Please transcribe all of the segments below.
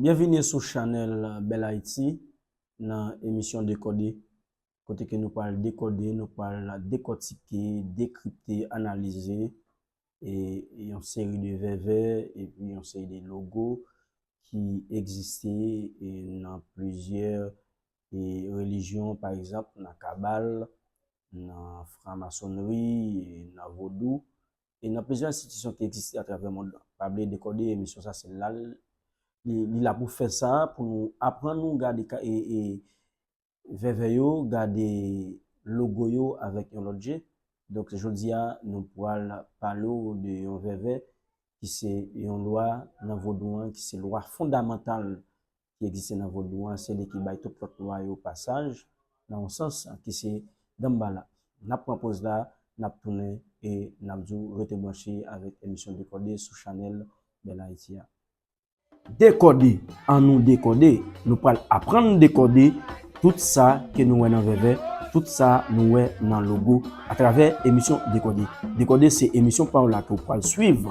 Byenvini sou chanèl Bèl Ayiti nan emisyon Dekode kote ke nou pral dekode, nou pral dekòtike, dekripte, analize yon seri de vèvè epi yon seri de logo ki egziste nan plizyè relijyon pa egzanp nan kabal, nan framasonnri, nan vodou e nan plizyè enstitisyon ki egziste atravè mond lan. Pa bliye dekode emisyon sa se lal li la pou fè sa pou nou aprann nou gade vèvè yo, gade logo yo avèk yon lòt je. Donk jodi a nou pwal pale w de yon vèvè ki se yon lwa nan vodou an ki se lwa fondamantal ki egziste nan vodou an, se li ki bay tout lòt lwa yo pasaj, nan yon sans, ki se Danmbala. N ap pran poz la, n ap tounen e n ap di w rete branche avèk emisyon Dekòde sou chanèl Bèl Ayiti a. Dekòde, an nou dekòde! Nou pral aprann dekòde tout sa ke nou wè nan vèvè, tout sa nou wè nan logo, atravè emisyon Dekòde. Dekòde se emisyon pa w la ke w pral suiv.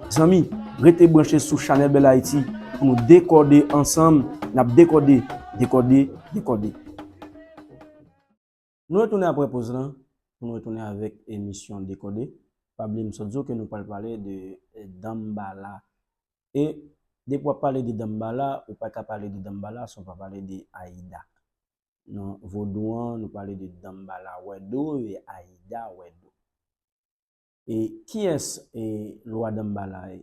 Zanmi, rete branche sou Chanel Belle Haiti pou nou dekòde ansanm, nap dekòde, dekòde, dekòde. Nou retounen aprè poz lan pou nou retounen avèk emisyon Dekode. Pa bliye m sot di w ke nou pral pale de Danmbala. E depi wap pale de Danmbala, ou pa ka pale de Danmbala san w pa pale de Ayida. Nan vodou an, nou pale de Danmbala Wèdo e Ayida Wèdo. E kiyès e lwa Danmbala ye?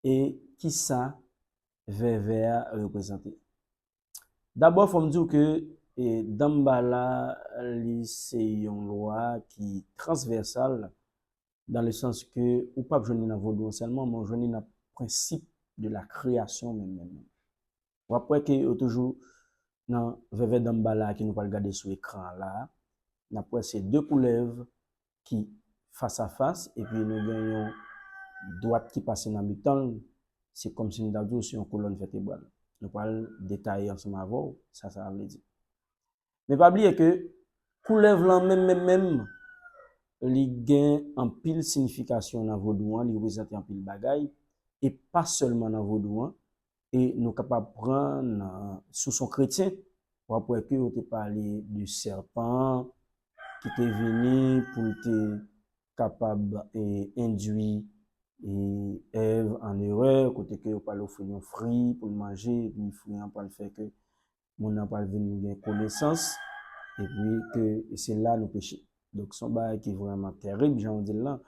E kisa vèvè a reprezante? Dabò fò m di w ke e Danmbala li se yon lwa ki transvèsal dan le sans ke ou pap jwenn li nan vodou an sèlman men ou jwenn li nan prensip de la kreyasyon menm menm. Wap wè ke yo toujou nan vèvè danmbala ke nou pral gade sou ekran an la. Nap wè se 2 koulèv ki fas a fas epi nou gen yon dwat ki pase nan mitan l. Se kòm si nou ta di w se yon kolòn vètebral. Nou pral detaye ansanm avè w sa sa vle di. Men pa bliye ke koulèv lan menm menm menm li gen anpil sinifikasyon nan vodou an, li reprezante anpil bagay e pa sèlman nan vodou an e nou kapab pran nan sous yon kretyen w ap wè ke yo te pale de sèpan ki te vini pou l te kapab endui Èv an erè kote ke yo pral ofri l yon fri pou l manje epi fri an pral fè ke moun nan pral vin gen konesans, epi ke se la nou peche. Donk se yon bagay ki vrèman tèrib jan ou di l lan.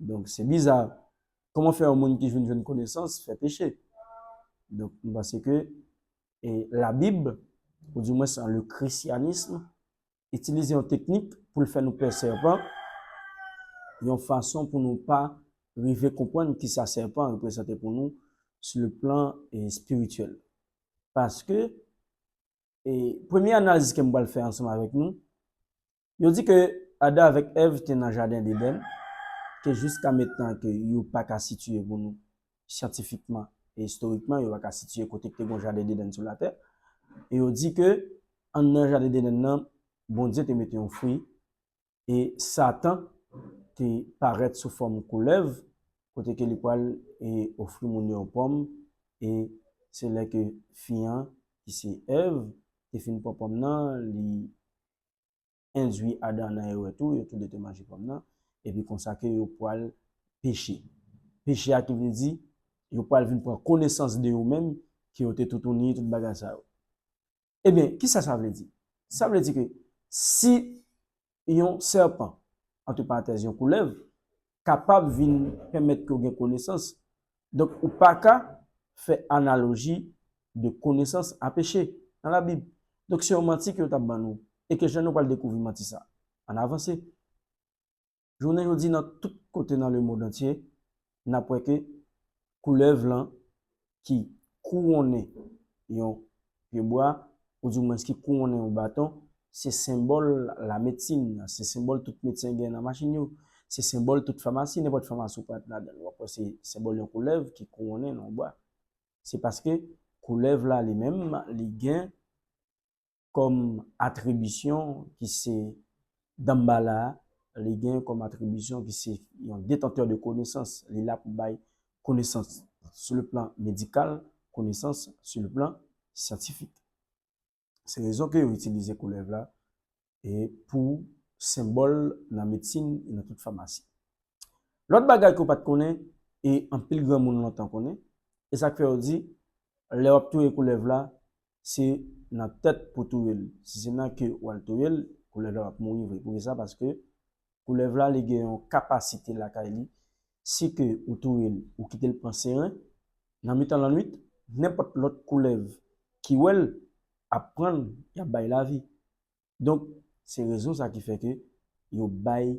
Donk se biza, kòman fè yon moun ki vin jwenn konesans fè peche? Donk m panse ke labib, ou dimwens le krisyanism, itilize yon teknik pou l fè nou pè sèpan, yon fason pou nou pa rive konprann ki sa sèpan reprezante pou nou sou le plan espirityèl. Paske, premye analiz ke m pral fè ansanm avèk nou, yo di ke Adan avèk Èv te nan Jaden Deden, ke jiska metnan ke yo pa ka sitiye pou nou. syantifikman e istorikman yo pa ka sitiye kote k te gon jaden Dedenn sou latè. E yo di ke anndan jaden Dedenn nan, Bondye te mete yon fwi e Satan te parèt sou fòm koulèv kote ke li pral ofri moun yo yon pòm e se lè ke fi an ki se Èv te fin pran pòm nan li endwi Adan nan erè tou, yo tou de te manje pòm nan, epi konsa ke yo pwal peche. Peche a ki vle di, yo pwal vin pran konesans de yo menm, ke yo te toutouni, tout bagay sa yo. Ebyen, ki sa sa vle di? Sa vle di ke, si yon sèpan, antre parantèz yon koulèv, kapab vin pèmèt ke w gen konesans. Donk, ou pa ka fè analoji de konesans a peche nan Labib. Donk, se yon manti ke yo t ap ban nou, e ke jan nou pral dekouvri manti sa a nan avanse. Jounen jodi nan tout kote nan lemond antye, n ap wè ke koulèv lan ki kouwonnen yon pyebwa, oudimwens ki kouwonnen yon baton, se senbòl lametsin, se senbòl tout medsen gen nan machin yo, se senbòl tout famasi, nenpòt famasi ou pral ladan l, w ap wè se senbòl yon koulèv ki kouwonnen nan yon bwa. Se paske koulèv la li menm li gen. kòm atribisyon ki se Danmbala a, li gen kòm atribisyon ki se yon detantè de konesans, li la pou bay konesans sou le plan medikal, konesans sou le plan syantifik. Se rezon ke yo itilize koulèv la pou senbòl nan medsin e nan tout famasi. Lòt bagay ke w pa t konnen e anpil granmoun lontan konnen, e sa k fè yo di, lè w ap touye koulèv la, se nan tèt pou w touye l. Si se nan ke w al touye l, koulèv la pa p mouri vre. Poukisa? Paske koulèv la li gen yon kapasite lakay li, si ke ou touye l, ou kite l pran seren, nan mitan lannwit, nenpòt lòt koulèv ki wè l ap pran l, y ap bay lavi. Donk, se rezon sa ki fè ke yo bay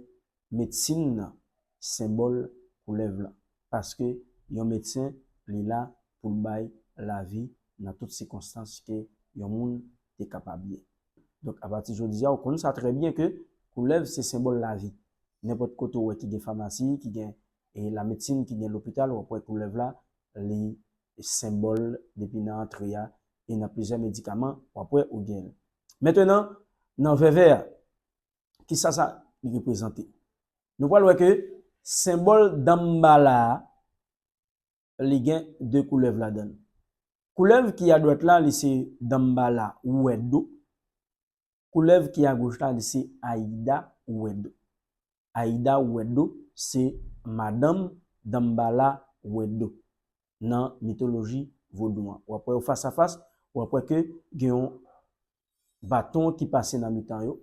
medsin nan senbòl koulèv lan. Paske yon medsen li la pou l bay lavi nan tout sikonstans ke yon moun te kapab ye. Donk, apati jodi a, ou konn sa trè byen ke koulèv se senbòl lavi. Nenpòt kote ou wè ki gen famasi, ki gen lamedsin, ki gen lopital, w ap wè koulèv la, li senbòl depi nan antre a, e nan plizyè medikaman w ap wè ou gen l. Mentenan, nan vèvè a, ki sa sa reprezante? Nou pral wè ke senbòl Danmbala a, li gen 2 koulèv ladan l. Koulèv ki adwat la, li se Danmbala Wèdou, Koulèv ki a goch la li se Aida Wedo. Aida Wedo se madanm Danmbala Wedo nan mitoloji vodou an. Wap wè yo fas a fas, wap wè ke gen yon baton ki pase nan mitan yo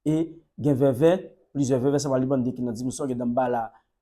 e gen vèvè, plizyè vèvè sa pa li bande ki nan dimansyon, gen Danmbala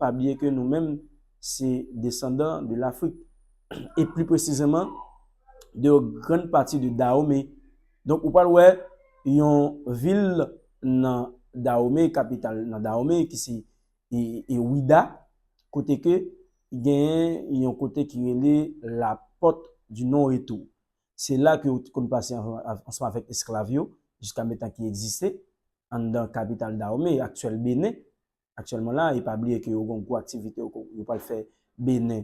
pa bliye ke nou menm se desandan de Lafrik, e pli presizeman de yon grann pati de Dahome. Donk ou pral wè yon vil nan Dahome, kapital nan Dahome ki se Ouidah, kote ke genyen yon kote ki rele La Porte du Non Retour. Se la ke yo te konn pase ansanm avèk esklav yo jiska metan ki egziste anndan kapital Dahome, aktyèl Benen. aktyèlman la, e pa bliye ke yo gen yon gwo aktivite yo ko, yo pral fè Benin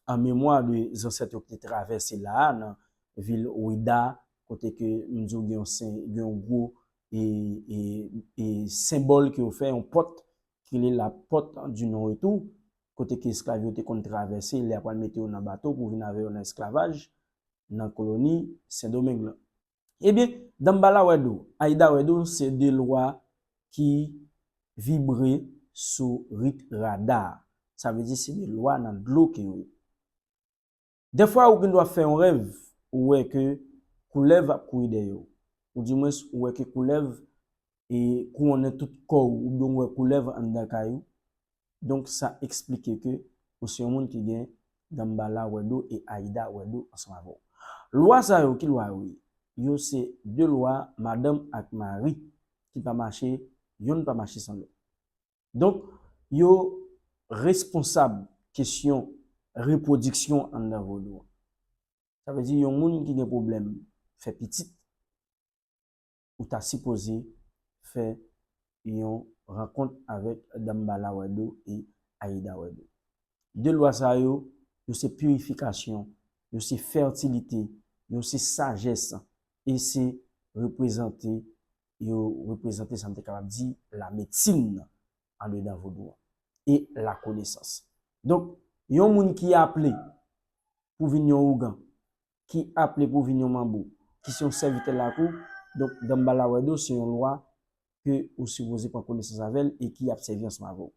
an memwa de zansèt yo ki te travèse la a nan vil Ouidah a, kote ke m di w gen yon sen, gen yon gwo e, e, e senbòl ke yo fè, yon pòt ki rele la porte du non retour, kote ke esklav yo te konn travèse lè y ap pral mete yo nan bato pou vin avè yo nan esklavaj nan koloni Sendomeng lan. Ebyen Dambala wè dou, Ayida wè dou se 2 lwa ki vibre sou rit rada a. Sa vle di se 2 lwa nan dlo ke yo ye. Dèfwa ou gen dwa fè yon rèv ou wè ke koulèv ap kouri dèyè ou. Ou di mwens ou wè ke koulèv e kouwonnen tout kò ou oubyen ou wè koulèv anndan kay ou, donk sa eksplike ke ou se yon moun ki gen Danmbala wè do e Ayida wè do ansanm avè w. Lwa sa yo, ki lwa yo ye? Yo se de lwa madanm ak mari ki pa mache, yonn pa mache san lòt. Donk, yo responsab kesyon repwodiksyon anndan Vodou an. Sa vle di yon moun ki gen pwoblèm fè pitit, ou ta sipoze fè yon rankont avèk Dambala Wèdo e Ayida Wèdo. De lwa sa yo, yo se pirifikasyon, yo se fètilite, yo se sajès e se reprezante, yo reprezante sa m te kapab di lamedsin andedan vodou an e lakonesans. Donk, yon moun ki aple pou vin yon ougan, ki aple pou vin yon manbo, ki se yon sèvitè lakou, donk Danmbala Wèdo se yon lwa ke ou sipoze pran konesans avè l e ki ap sèvi ansanm avè w.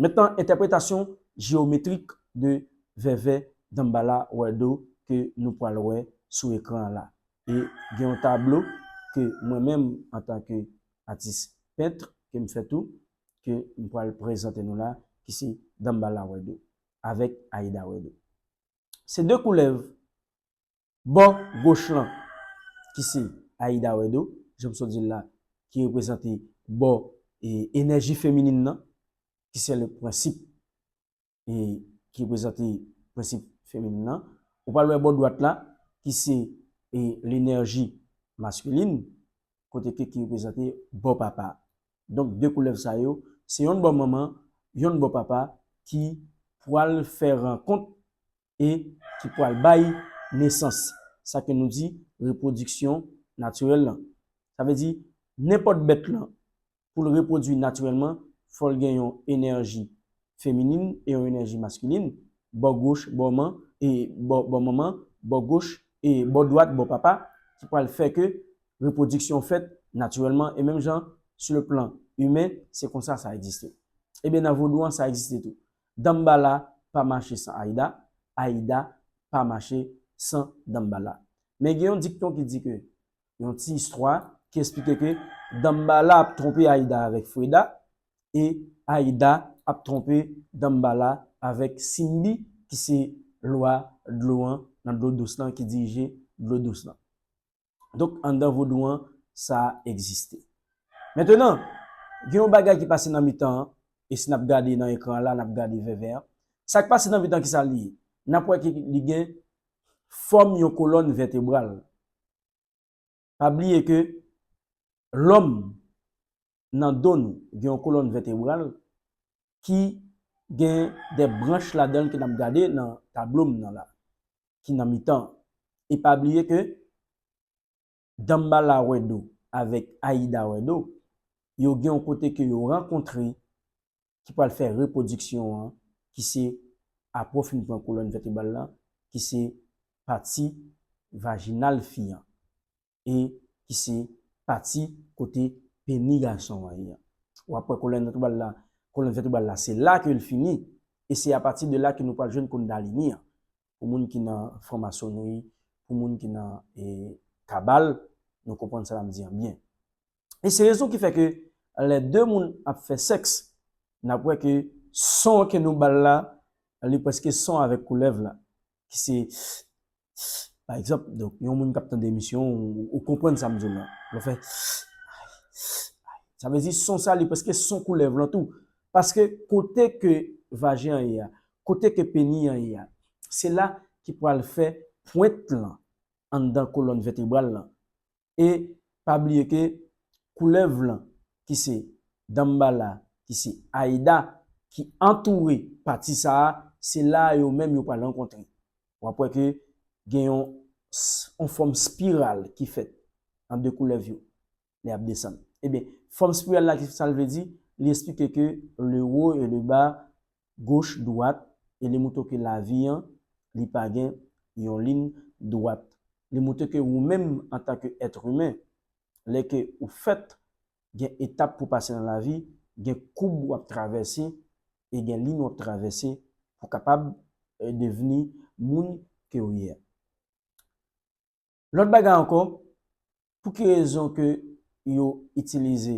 Mentnan entèpretasyon jeyometrik de vèvè Danmbala Wèdo ke nou pwal wè sou ekran an la. E gen yon tablo ke mwen menm antan ke atis pentre ke m fè tou, ke m pwal prezante nou la ki se Danmbala Wèdo avèk Ayida Wèdo. Se de koulèv bò goch lan ki se Ayida Wèdo, jan m sot di l la, ki reprezante bò enèji feminin nan, ki se le prensip ki reprezante prensip feminin nan. Ou pral wè bò dwat la ki se lenèji maskulin, kote Keke reprezante bò papa. Donk 2 koulèv sa yo, se yonn bò manman, yonn bò papa ki pwal fè rankont e ki pwal bay nesans, sa ke nou di repwodiksyon natirèl lan. Sa vle di nenpòt bèt lan Pou l repwodui natirèlman, fò l gen yon enèji feminin e yon enèji maskilin, bò goch bò man e bò manman, bò goch e bò dwat bò papa, ki pral fè ke repwodiksyon fèt natirèlman e menm jan su le plan imen se konsa sa egziste. Ebyen nan vodou an sa egziste tou. Danmbala pa mache san Ayida, Ayida pa mache san Danmbala. Men gen yon dikton ki di ke yon ti istwa ki esplike ke Danmbala ap twonpe Ayida avèk Freda e Ayida ap twonpe Danmbala avèk Simbi ki se lwa dlo an nan dlo dous lan, ki dirije dlo dous lan. Donk anndan vodou an sa egziste. Mentenan, gen yon bagay ki pase nan mitan an, e si n ap gade nan ekran an la, n ap gade vèvè an. Sa k pase nan mitan an ki sa li ye? N ap wè ke li gen fòm yon kolòn vètebral. Pa bliye ke lòm nan do nou gen yon kolòn vètebral ki gen de branch ladan l ke n ap gade nan tablo m nan la, ki nan mitan an. E pa bliye ke Danmbala wè do avèk Ayida wè do, yo gen yon kote ke yo rankontre ki pral fè repwodiksyon an ki se apre w fin pran kolòn vètebral lan ki se pati vajinal fi an e ki se pati kote peni gason an ye an. Ou ap wè kolòn vètebral la, kolòn vètebral la se la ke l fini e se apati de la ke nou pral jwenn Kundalini an. Pou moun ki nan franmasonri, pou moun ki nan kabal, nou konprann sa m ap di an byen. E se rezon ki fè ke lè 2 moun ap fè sèks, n ap wè ke son ke nou ba l la, li prèske son avèk koulèv la, ki se sssss pa egzanp, donk yon moun k ap tande emisyon ou konprann sa m di w la, lè w fè sssss ay, sa vle di son sa li prèske son koulèv lan tou, paske kote ke vajen an ye a, kote ke peni an ye a, se la ki pral fè pwent lan anndan kolòn vètebral lan, e pa bliye ke koulèv lan ki se Danmbala ki se Aida ki antoure pati sa a se la a yo menm yo pral rankontre w ap wè ke gen yon yon fòm spiral ki fèt ant 2 koulèv yo lè y ap desann ebyen fòm spiral la ki sa l vle di li esplike ke le haut et le bas goch dwat e li moutre w ke lavi an li pa gen yon lin dwat. Li moutre ke wou menm antan ke ètr imen, lè ke ou fèt, gen etap pou pase nan lavi, gen koub wap travèse e gen lin wap travèse pou kapab devni moun ke ou ye a. Lòt bagay ankò, pou ki rezon ke yo itilize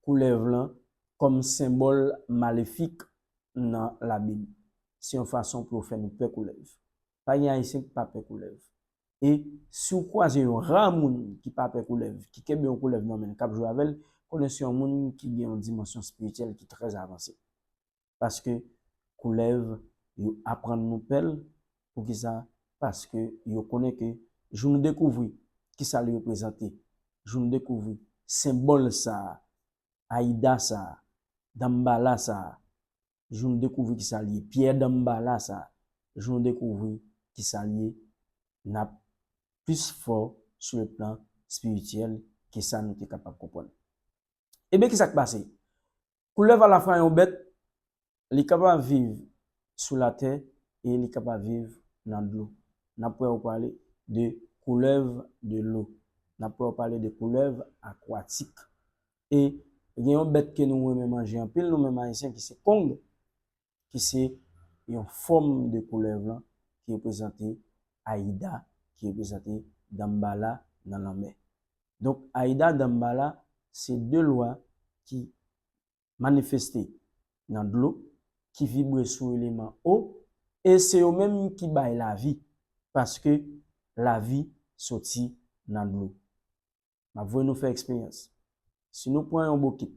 koulèv lan kòm senbòl malefik nan labib? Se yon fason pou yo fè nou pè koulèv. Pa gen Ayisyen ki pa pè koulèv. E si ou kwaze yon ra moun ki pa pè koulèv, ki kenbe yon koulèv nan men l, k ap jwe avè l, konnen se yon moun ki gen yon dimansyon espirityèl ki trè avanse. paske koulèv yo aprann nou pèl poukisa paske yo konnen ke jou nou dekouvri kisa li reprezante jou nou dekouvri senbòl sa ayida sa danmbala sa jou nou dekouvri kisa li ye pyè danmbala sa jou nou dekouvri kisa li ye nap plis fò sou le plan spirityèl ke sa nou te kapab konprann ebyen kisa k pase Koulèv a la fwa yon bèt, li kapab viv sou latè e li kapab viv nan dlo. N ap wè yo pale de koulèv de lo. N ap wè yo pale de koulèv akwatik. E gen yon bèt ke nou renmen manje anpil nou menm Ayisyen ki se kong. ki se yon fòm de koulèv lan ki reprezante Ayida, ki reprezante Danmbala nan lanmè. Donk Ayida, Danmbala se 2 lwa ki manifeste nan dlo, ki vibre sou eleman o e se yo menm ki bay lavi paske lavi soti nan dlo. M ap voye nou fè eksperyans. Si nou pran yon bokit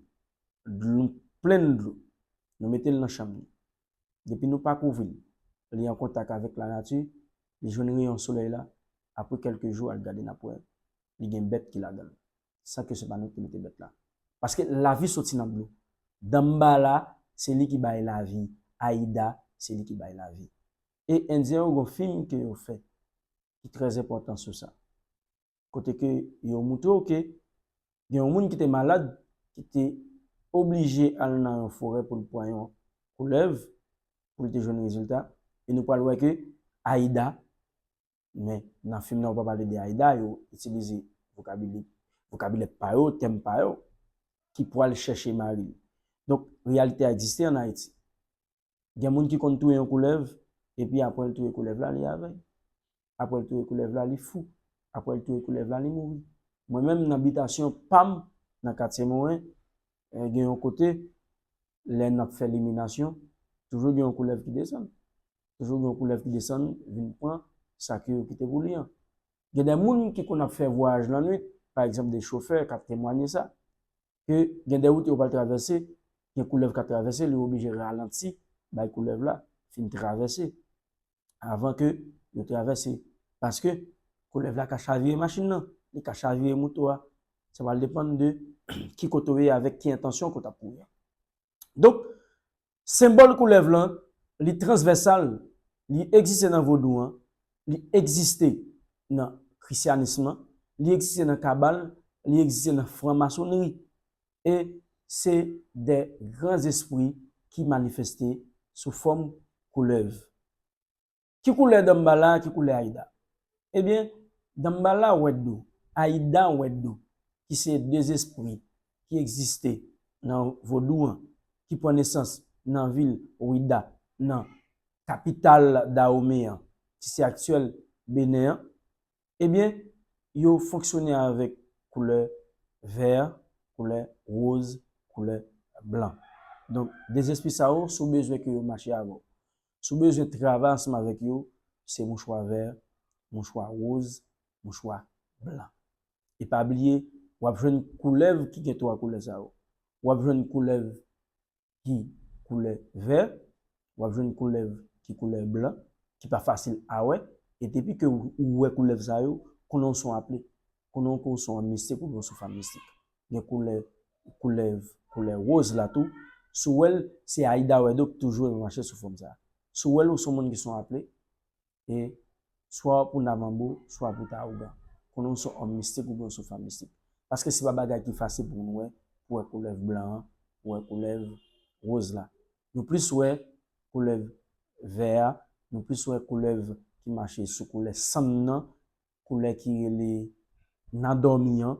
dlo plen dlo, nou mete l nan chanm li. Depi nou pa kouvri l, li an kontak avèk lanati, li jwenn reyon solèy la, apre kèlke jou al gade n ap wè li gen bèt ki ladan l, san ke se pa nou ki mete bèt la. Paske lavi soti nan dlo. Danmbala se li ki bay lavi, Ayida se li ki bay lavi. E endyen yo gen yon fim ke yo fè ki trè enpòtan sou sa. kote ke yo moutre w ke gen yon moun ki te malad ki te oblije al nan yon forè pou l pran yon koulèv pou l te jwenn rezilta e nou pral wè ke Ayida men nan fim nan yo pa pale de Ayida yo itilize vokabili vokabilè pa yo tèm pa yo ki pral chèche mari l donk reyalite a egziste an Ayiti Gen moun ki konn touye yon koulèv, epi apre l touye koulèv la, li avèy. Apre l touye koulèv la, li fou. Apre l touye koulèv la, li mouri. Mwen menm nan bitasyon pa m, nan katye Moren, gen yon kote, lè n ap fè liminasyon, toujou gen yon koulèv ki desann. Toujou gen yon koulèv ki desann vin pran sa ke yo kite pou li an. Gen de moun ki konn ap fè vwayaj lannwit, pa egzanp de chofè k ap temwanye sa. ke gen de wout yo pral travèse, gen koulèv kap travèse, li oblije ralanti bay koulèv la fin travèse avan ke yo travèse. Paske koulèv la ka chavire machin nan, li ka chavire moto a, sa pral depann de ki kote ou ye avèk ki entansyon ke w tap kouri an. Donk, Senbòl koulèv lan, li transvèsal, li egziste nan vodou an, li egziste nan krisyanism lan, li egziste nan kabal, li egziste nan franmasonnri e se de gran zespri ki manifeste sou fòm koulèv. Ki koulè Danmbala ki koulè Ayida? Ebyen, Danmbala wè dlo, Ayida wè dlo ki se de zespri ki egziste nan vodou an ki pran nesans nan vil Ouida nan kapital Dawome an ki se aktyèl Benen an, ebyen yo fonksyone avèk koulè vè, koulè woz, koulè blan. Donk de zespri sa yo si w bezwen ke yo mache avè w, Si w bezwen travay ansanm avèk yo, se mouchwa vè, mouchwa woz, mouchwa blan. E pa bliye, w ap jwenn koulèv ki gen twa koulè sa yo. W ap jwenn koulèv ki koulè vè, w ap jwenn koulèv ki koulè blan, ki pa fasil a wè, e depi ke ou wè koulèv sa yo, konnen w se yon aple. Koulè yon koson an mistik oubyen yon souf an mistik. Gen koulè koulèv, koulè woz la tou. Si w wè l, se Aida Wedo ki toujou renmen mache sou fòm sa. Si w wè l ou se yon moun ki se yon aple e swa pou Navanbo, swa pou Tarougan. Konnen w se yon òm mistik oubyen yon souf an mistik. Paske se pa bagay ki fasil pou moun wè, pou wè koulèv blan an, pou wè koulèv woz la. Nou plis wè koulèv vè a, nou plis wè koulèv ki mache sou koulè sann nan koulè ki rele nan dòmi an,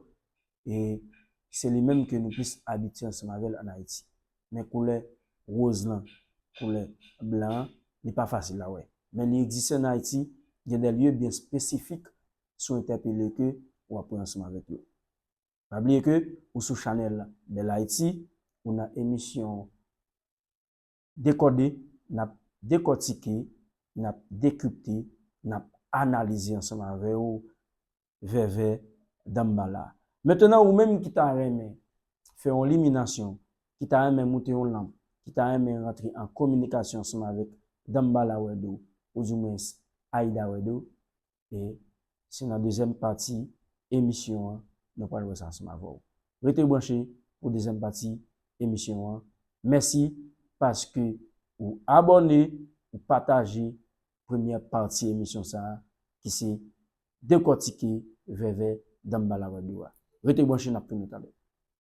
e se li menm ke nou plis abitye ansanm avè l an Ayiti. Men koulè woz lan, koulè blan an, li pa fasil a wè. Men li egziste an Ayiti, gen dè lye byen espesifik si w entèpele ke w ap wè ansanm avèk yo. Pa bliye ke ou sou chanèl Bèl Ayiti, ou nan emisyon. Dekòde, n ap dekòtike, n ap dekripte, n ap analize ansanm avè w vèvè Danmbala. Mentnan ou menm ki ta renmen fè yon liminasyon, ki ta renmen moute yon lanp, ki ta renmen rantre an kominikasyon ansanm avèk Danmbala Wèdo, ou di mwens Ayida Wèdo, e se nan dezyèm pati emisyon an nou pral wè sa ansanm avè w. Rete branche pou dezyèm pati emisyon an. Mèsi paske ou abòne, ou pataje premyè pati emisyon sa a ki se Dekòtike Vèvè Danmbala Wèb yo a. Rete branche n ap tounen talè.